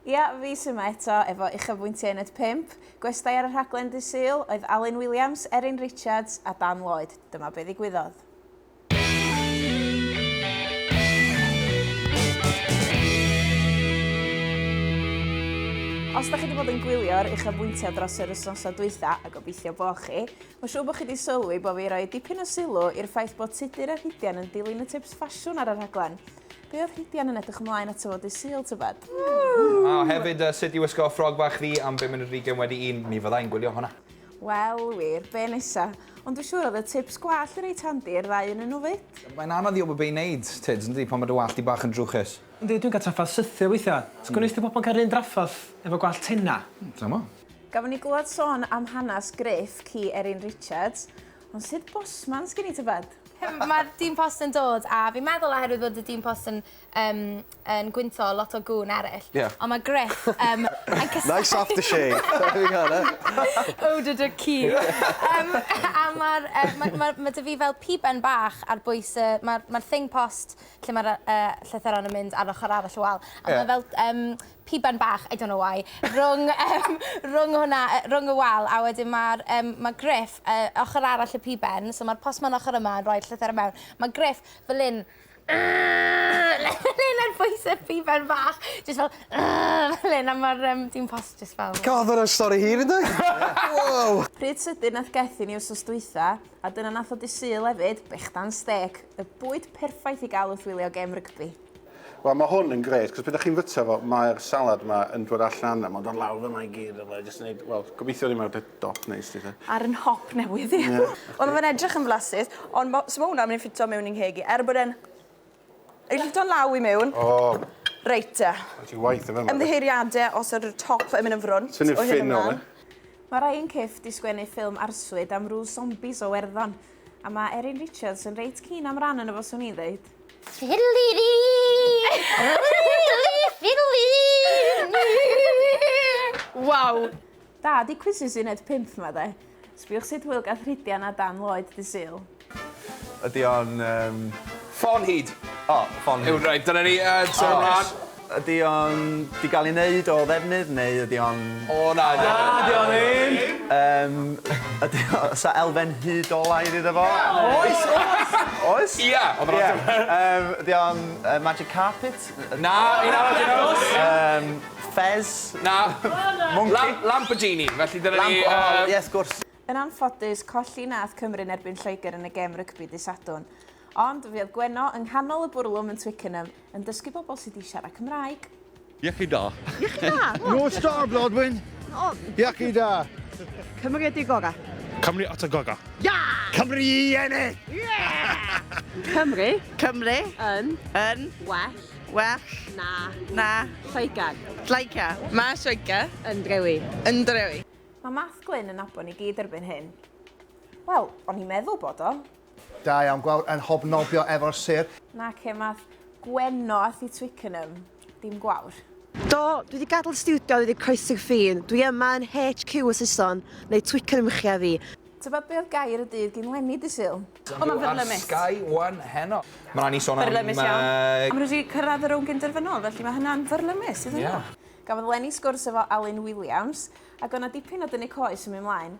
Ia, fis yma eto efo uchafbwyntiau yn at pump. Gwestai ar y rhaglen ddydd Sul oedd Alun Williams, Erin Richards a Dan Lloyd. Dyma be ddigwyddodd. Os da chi wedi bod yn gwylio'r uchafbwyntiau dros yr wythnosau dwytha, a gobeithio bo chi, mae'n siŵr bod chi wedi sylwi bod fi roi dipyn o sylw i'r ffaith bod Tudur a Rhidian yn dilyn y tips ffasiwn ar y rhaglen. Be oedd Rhydian yn edrych ymlaen ato fo dydd Sul, tybed? A hefyd, sut i wisgo ffrog bach chdi am bum munud ar hugain wedi un, mi fydda i'n gwylio hwnna. Wel wir, be nesa? Ond dwi siŵr oedd y tips gwallt yn reit handi i'r ddau ynnyn nhw 'fyd. Mae'n anodd i wybod be i wneud, Tuds, yndi, pan mae dy wallt di bach yn drwchus. Yndi, dwi'n cael trafferth sythio weithiau. Sut gwnes di bobman cael yr un drafferth efo gwallt tenau? Dw'm 'mod. Gafon ni glywed sôn am hanes Gruff ci Erin Richards. Ond sut bosman sgen i tybed? Mae'r dyn post yn dod a fi'n meddwl oherwydd bod y dyn post yn yym yn gwynto lot o gŵn eryll. Ie. Ond mae Gruff yym yn cysau... Nice after shave! There we go then. Eau de duck key. Yym a ma'r yy ma' ma' ma' 'da fi fel piben bach ar bwys y ma'r ma'r thing post lle ma'r yy yy llythyren yn mynd ar yr ochor arall y wal a ma' fel yym piban bach, I don't know why, rhwng yym rhwng hwnna yy rhwng y wal a wedyn ma'r yym ma' Griff yy ochor arall y piben so ma'r postman ochor yma yn rhoi'r llythyr i mewn ma' Griff fel 'yn fel 'yn ar bwys y piban bach jyst fel fel 'yn a ma'r yym dyn post jyst fel... God ma' wnna'n stori hir yndi? Wow! Pryd sydyn nath Geth i ni wsos dwytha a dyna nath o dy Sul efyd, brechdan stêc, y bwyd perffaith i ga'l wrth wylio gêm rygbi. Wel mae hwn yn grêt, cos pryd chi'n fyta fo, mae'r salad ma yn dod allan a mae'n dod lawr fyna i gyd a mae jyst yn neud, wel, gobeithio ddim ar dy dop neis di te. Ar yn nhop newydd i. Ie. Wel mae fe'n edrych yn flasus, ond ma- so ma' hwnna myn' i ffito mewn i'n ngheg i, er bod e'n Ei ffito'n law i mewn. O! Reit te. Reit i waith efo fe. Ymddiheuriade os yw'r top yn myn' yn frwnt o hyn ymlan. Tynnu'r ffyn o fe. Mae rhai yn cyfft i sgwennu ffilm arswyd am rw sombis o Werddon, A mae Erin Richards yn reit keen am ran yn y fo swn i'n ddeud. Fiddly fiddly Waw! Da, di quizzes uned pump ma de. Sbiwch sut hwyl gath Rhidian a Dan Lloyd dy Sul. Ydy o'n yym... Ffon hud! O, ffon hud. Iawn, reit, dyna ni, yy, tro 'ma. Ydy o'n 'di gael ei wneud o ddefnydd neu ydy o'n... O na 'di o ddim! Na 'di o ddim! Yym ydy o... oes 'na elfen hud olaidd iddo fo? Oes oes! Oes? Ia! Ond yr ateb... Ia. Yym ydy o'n yy magic carpet? Na! Un arall i ddangos! Yym ffês? Na. Mwnci? Lam- Lamborghini, felly dyna ni yy... Lamp- o ie wrth gwrs. Yn anffodus, colli nath Cymru yn erbyn Lloegr yn y gêm rygbi dydd Sadwrn. Ond, fe oedd Gwenno yng nghanol y bwrlwm yn Twickenham, Yn dysgu pobl sydd wedi siarad Cymraeg. Iechyd da. Iechyd da! No star, Blodwyn! Iechyd da! Cymru ydi gora. Cymru at y goga. Ia! Cymru i ennill! Cymru Cymru yn yn well well na na Lloegr. Lloegr. Mae Lloegr yn drewi. Yn drewi. Mae Math Glyn yn nabod ni gyd erbyn hyn. Wel, o'n i'n meddwl bod o. Da iawn, gwawr yn hobnobio efo'r sêr. Nace, math Gwenno a Thu Twickenham, dim gwawr. Do, dwi wedi gadael y stiwdio i ddweud croeso i Ffion. Dwi yma yn HQ y Saeson, neu Twickenham i chi a fi. Tybed be oedd gair y dydd gin Lenny dy Sul? O, mae'n fyrlymus. Ar Sky One heno. Mae'n rhaid ni sôn am... Fyrlymus iawn. A maen nhw wedi cyrraedd y rownd gynderfynol, felly mae hynna'n fyrlymus iddyn nhw. Gafodd Lenny sgwrs efo Alun Williams, ac oedd 'na dipyn o dynnu coes yn mynd 'mlaen.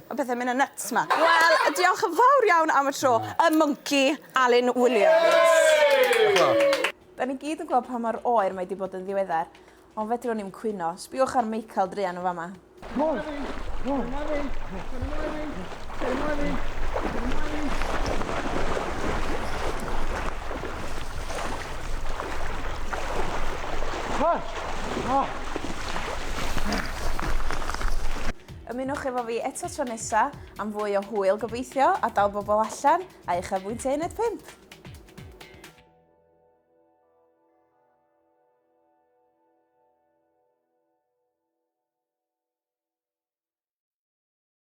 Mae pethau'n mynd yn nyts 'ma. Wel, diolch yn fawr iawn am y tro. Y mwnci, Alun Williams. Da ni gyd yn gweld pa mor oer mae 'di bod yn ddiweddar, ond fedrwn i'm cwyno. Sbïwch ar Michael druan yn fama. Hei! Ymunwch efo fi eto tro nesa am fwy o hwyl gobeithio a dal bobl allan a uchafbwyntiau uned 5.